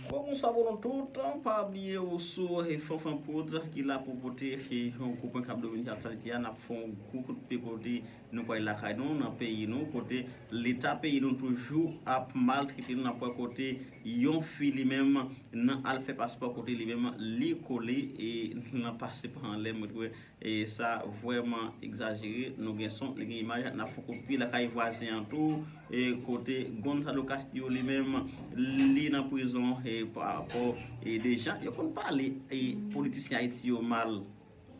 Bonsoir pou nou tout, pa bliye ou sou Fanfan Prod ki la pou pote yon gwo pwen kap domine aktyalite a, nap fè yon gwo kout pye kote nou pral lakay nou, nan peyi nou, kote leta peyi nou toujou ap maltrete nou, nap wè kote yon fi li menm nan al fè paspò kote li menm li kole nan pase pa anlè mwen t wè. E sa vreman egzajere, nou gen son, nou gen imaj, nap fon kopi lakay vwazen an tou, e kote Gonzalo Castillo li menm li nan prizon e pa rapò e de jan yo konn pale e politisyen Ayiti yo mal.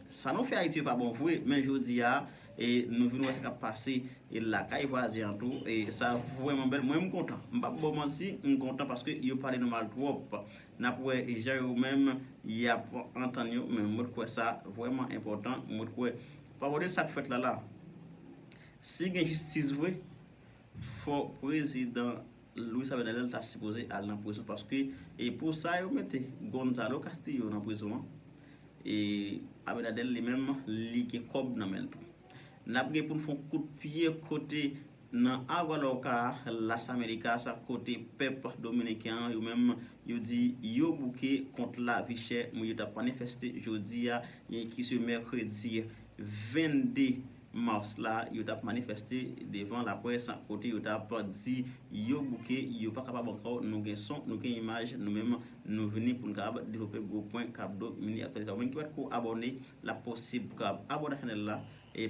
Sa nou fè Ayiti yo pa bon vre, men jodi a e nou vin wè sa kap pase e lakay vwazen an tou e sa vreman bèl, mwen m kontan, m pap baw manti, m kontan paske yo pale nou mal twòp. Nap wè jan yo menm yap antann yo men mwen t kwè sa vrèman enpòtan mwen t kwè pa gade sak fèt la la si gen jistis vre fò prezidan Luis Abinader ta sipoze al nan prizon paske e pou sa yo mete Gonzalo Castillo nan prizon an e Abinader li menm li gen kòb nan menl tou nap gen poun fon kout pye kote Nan Aguadauca, Las Americas, kote pèp dominiken an yo menm yo di yo bouke kont lavi chè moun yo tap manifeste jodi a ki se mèkredi 22 mars la yo tap manifeste devan laprès kote yo tap di yo bouke yo pa kapab ankò nou gen son nou gen imaj nou menm nou vini pou nou kapab devlope gwo pwen kap do mine aktyalite a ou menm ki patko abòne lap posib pou kapab abòne ak chanèl la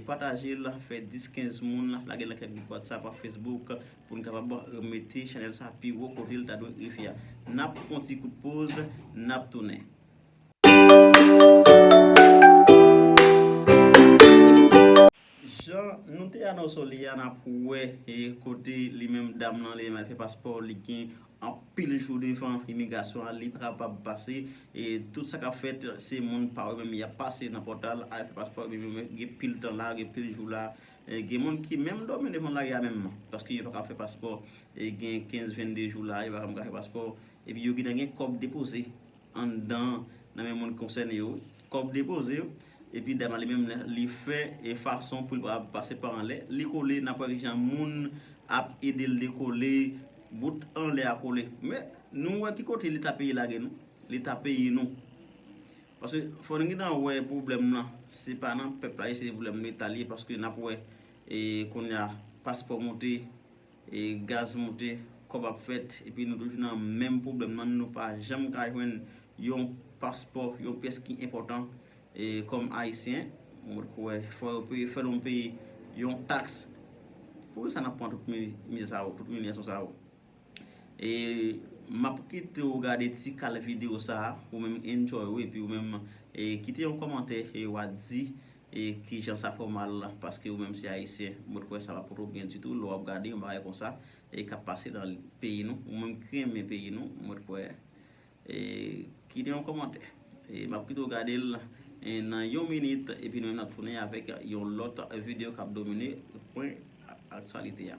Pataje l fè 10 15 moun lage l nan kèk gwoup whatsapp ak facebook pou n kapab mete chanèl sa pi wo kote l ta dwe rive a nap pran yon ti kout poz nap tounen. Jan nou te anonso li a nap wè kote li menm dam lan li menm al fè paspò li gen. anpil jou devan imigrasyon an li pa kapab pase e tout sa kap fèt se moun pa yo menm yap pase nan pòtal al fè paspò yo menm yo gen pil tan la gen pil jou la gen moun ki menm dòmi devan lari a menm paske yo pa ka fè paspò gen 15 22 jou la yo pa janm ka fè paspò epi yo gentan gen kòb depoze. anndan nan men moun konsène yo, kòb depoze yo, epi dam nan li menm li fè e fason pou li pa pase pa anlè, li kole nap wè kijan moun ap edel dekole, bout anlè a kole. Men nou wè ki kote leta peyi lage nou, leta peyi nou. Paske fò nou gentan wè pwoblèm lan se pa nan pèp la ye se pwoblèm leta li ye paske nap wè e kounya paspò moute. E gaz moute, kòb ap fèt, epi nou toujou nan menm pwoblèm nan, nou pa janm ka jwenn yon paspò, yon pyès ki enpòtan kòm Ayisyen. Mwen poko wè, fò yo peye, fè nou peye yon taks. Poukisa n ap pran tout mizè sa yo, tout imilyasyon sa yo? E m ap kite ou gade ti kal videyo sa a, ou menm enjoy ou, epi ou menm kite yon kòmantè e wa di E kijan sa fè w mal la paske ou menm se ayisyen mwen t kwè sa pa pote w byen ditou lè wap gade yon bagay konsa e kap pase nan peyi nou ou menm ki renmen peyi nou mwen t kwè e kite yon kòmantè e map kite w gade l nan yon minit epi nou menm nap tounen avèk yon lòt videyo kap domine pwen aktyalite a.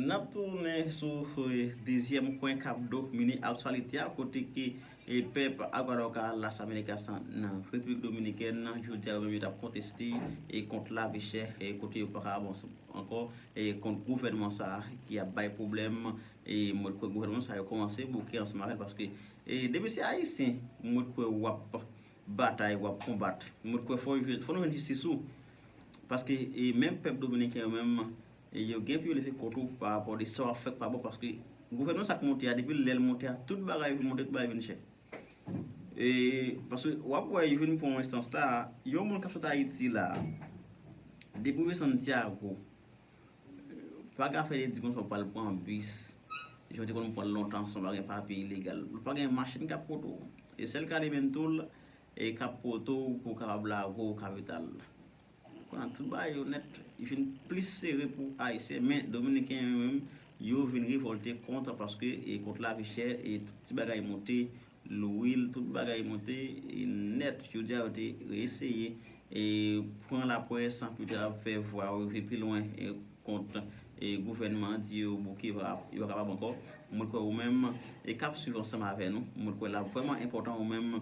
N ap tounen sou dezyèm kwen kap domine aktyalite a kote ke pèp Aguadauca, Las Americas nan Repiblik Dominikèn nan jodi a yo menm yo t ap konteste kont lavi chè kote yo paka avanse ankò kont gouvènman sa ki ap bay pwoblèm e mwen kwè gouvènman sa yo kòmanse bouke ansanm avèl paske depi se ayisyen mwen kwè w ap batay wap konbat mwen kwè fò yo fò nou jwenn jistis tou paske e menm pèp dominiken yo menm e yo gen pou yo leve kont ou pa rapò de sa wap fè k pa bon paske gouvènman sa k monte a depi lèl monte a tout bagay vin monte tout bagay vin chè e paske wap wè yo vin pran enstans la yon moun kap sot ayiti la depi w desann tyago Pa gen afè de di konswa pral pran bis jan w te konn pran l lontan san w pa gen papye ilegal. Ou pa gen machin k ap pote w. E sèl k ale menm tou l k ap pote w pou w kapab lage w kapital. Kounye a tout bagay yo nèt vin plis sere pou Ayisyen. Men Dominiken yo menm yo vin revòlte kont paske kont lavi chè e tout ti bagay monte lwil, tout bagay monte nèt. Jodi a yo te reeseye pran lapwè san pito ap fè vwa yo rive pi lwen kont gouvènman an, di yo bouke yo pa kapab ankò. Mwen kwè ou menm k ap swiv ansanm avè nou, mwen kwè l ap vrèman enpòtan ou menm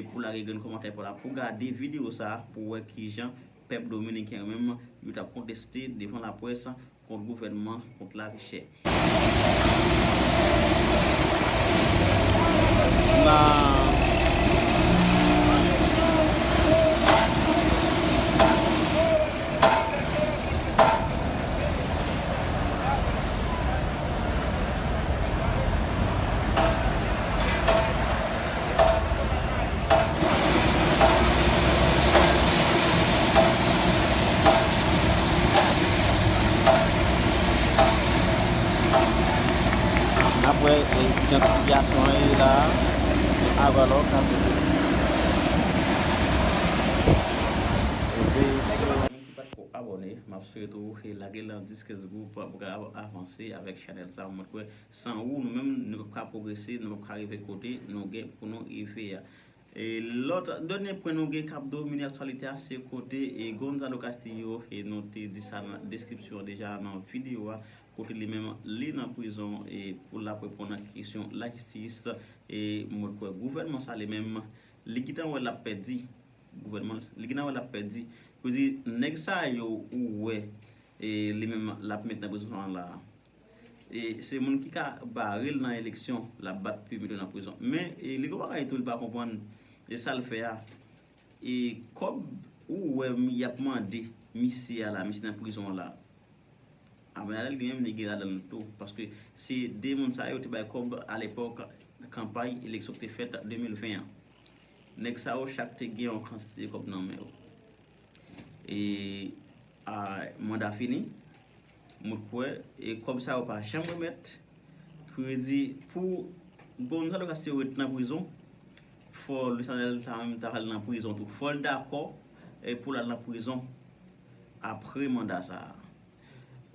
pou w lage grenn kòmantè pa w la, pou w gade videyo sa a pou w wè kijan pèp dominiken yo menm yo t ap konteste devan lapwès Kont gouvènman, kont lavi chè. Nap wè idantifikasyon an ye la se Avalor kap Veye sou. Ki pat ko abone map swete ou lage lan 10 15 group pou ka avanse avek chanel sa mwen kwè San ou, nou menm, nou pap ka pwogrese, nou pap ka rive kote nou gen pou nou rive a. Lòt done pwen nou gen k ap domine aktyalite a se kote Gonzalo Castillo, e nou te di sa nan deskripsyon an deja nan videyo a, kote li menm li nan prizon pou l ap reponn ak kesyon lajistis. E mwen kwè gouvènman sa li menm, li gentan wè l ap pèdi. Gouvènman, li gentan wè l ap pèdi. Yo di, nèg sa yo ou wè li menm l ap met nan prizon an la a, E se moun ki ka barel nan eleksyon lap bat pu metel nan prizon. Men li gon bagay tou li pa konprann e sal fè a e kòb ou wè yap mande misye a la misye nan prizon la Abenadèl li menm li gen ladanl tou paske se 2 moun sa yo te bay kòb a lepòk kanpay eleksyon ki te fèt 2020 an. Nèg sa yo chak te gen yon kantite kòb nan men yo. Manda fini, mwen kwè, e kòb sa yo pa janm remèt, kredi pou Gonzalo Castillo ret nan prizon, fò Luis Arnel sa menm ta al nan prizon tou, fòl dakò pou l al nan prizon apre manda sa.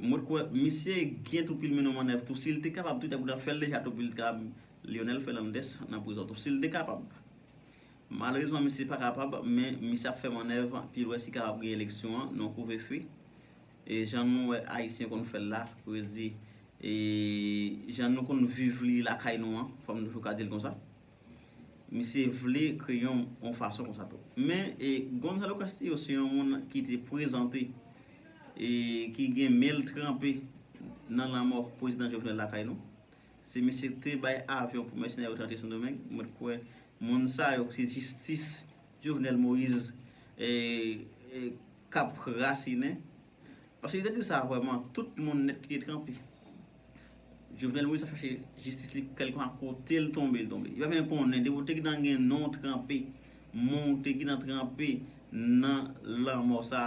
Mwen kwè misye gen tou pil mino mannèv tou, si l te kapab tou li ta kou ta fè l deja tou pou li ta kapab Lionel Fernandez nan prizon tou, si l te kapab. Malerezman misye pa kapab men misye ap fè manèv pi lwen si kapab gen eleksyon an non kouve fe e jan nou wè ayisyen konn fèl la pou yo di e jan nou konn viv li lakay nou an fòm toujou ka dil konsa misye vle kreye yon fason konsa tou men e Gonzalo Castillo se yon moun ki te prezante e ki gen menl tranpe nan lanmò prezidan Jovenel lakay nou Se misye ki te bay avyon pou mèsenè yo te antre sendomeng ou mèt kwè moun sa yo se jistis jovenel moise kap rasinen paske li te di sa vrèman tout moun nèt ki te tranpe jovenel moise ap chache jistis li kèlkeswa kotel tonbe li tonbe li pa menm konnen depi ou te gintan gen non ou tranpe moun ou te gintan tranpe nan lanmò sa.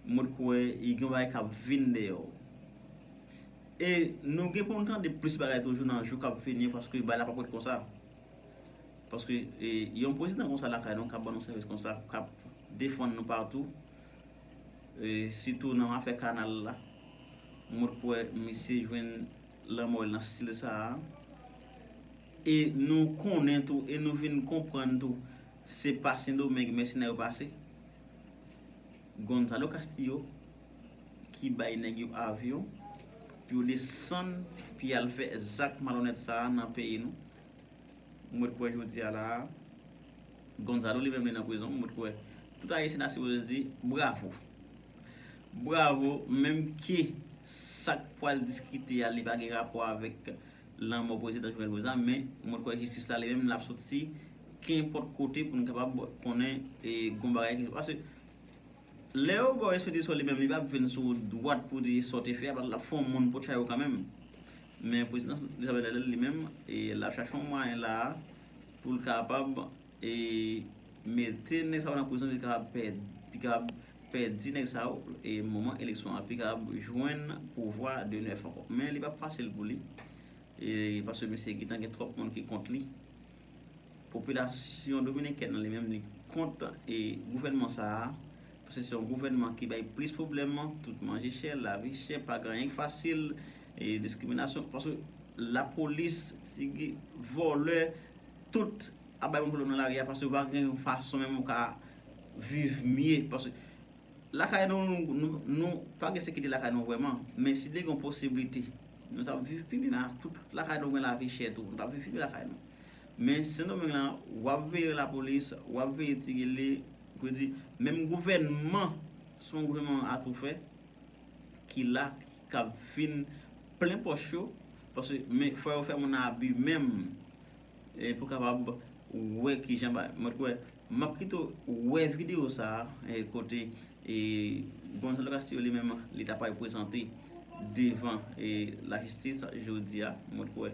Mwen kwè y gen bagay kap vin deyò. E nou gen pou nou tande plis bagay toujou nan jou kap vini yo paske bagay la pap ret konsa. Paske yon prezidan konsa lakay nou kap ban nou sèvis konsa, kap defann nou patou, sitou nan afè kanal la. Mwen kwè misye jwenn lanmò l nan stil sa a. E nou konnen tou e nou vin konprann tou se pa Sendomeng mèsenè yo pase. Gonzalo Castillo ki bay nèg yo avyon pou yo desann pi al fè zak malonèt sa a nan peyi nou. M wè t kwè jodi a la a Gonzalo li menm li nan prizon. M wè t kwè tout Ayisyen ta sipoze di bravo. Bravo menm ke sa k pwal diskite a li pa gen rapò avèk. lanmò prezidan Jovenel Moïse la men mwen kwè jistis la li menm lap soti kenpòt kote pou n kapab konnen e gon bagay ki paske lè yo baw espedisyon li menm li pap vin sou wout dwat pou di sa w te fè a paske lap fè yon moun pot chay ou kanmenm men prezidan Jovenel Moïse li menm e lap chache yon mwayen la a pou l kapab e mete nèg sa yo nan prizon li kapab pè li kapab fè di nèg sa yo moman eleksyon an pi kab jwenn pouvwa de nèf ankò. Men li pap fasil pou li paske misye gentan gen twòp moun ki kont li. Popilasyon dominikèn an li menm li kont gouvènman sa a paske se yon gouvènman ki bay plis pwoblèm, tout manje chè, lavi chè, pa gen anyen ki fasil, diskriminasyon paske lapolis, tigi, vòlè, tout ap bay moun pwoblèm nan lari a paske pa gen yon fason menm ou ka viv mye paske lakay nou nou pa gen sekirite lakay nou vrèman men si te gen yon posiblite nou tap viv pi byen tout lakay nou gen lavi chè tou nou tap viv pi byen lakay nou men sendomeng lan wap veye lapolis wap veye ti gele vle di menm gouvènman se yon gouvènman atoufè ki la kap vin plen pòch yo paske men fò yo fè moun abi menm pou kapab wè kijan bagay mwen t kwè M ap kite w wè videyo sa a kote Gonzalo Castillo li menm li ta pral prezante devan lajistis jodi a. Mwen kwè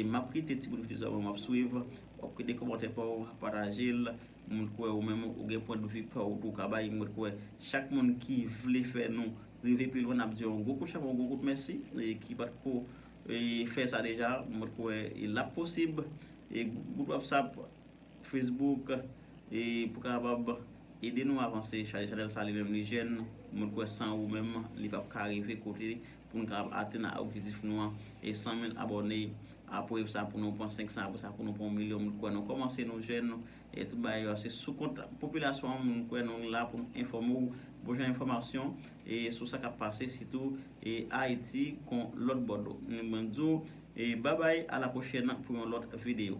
m ap kite ti bout videyo sa a pou m ap swiv. W ap kite kòmantè pa w, pataje l. Mwen kwè ou menm ou gen pwendvi pa w pou w ka bay. Mwen kwè chak moun ki vle fè nou rive pi lwen n ap di yon gwo kout chapo, yon gwo kout mèsi. Ki pa t ko fè sa deja, mwen kwè l ap posib. Group whatsapp. Facebook e pou kapab ede nou avanse chale chanèl sa li menm li jèn mwen kwè san ou menm li pap ka rive kote poun kapab atenn a objektif nou an e 100 mil abòne apre sa pou nou pran 500 apre sa pou nou pran yon milyon mwen kwè nou kòmanse nou jèn e tout bagay yo se sou kont popilasyon an mwen kwè nou la poun enfòme ou bon jan enfòmasyon e sou sa kap pase sitou e Ayiti kon lòt bò dlo mwen di w e babay a la pwochèn pou yon lòt videyo.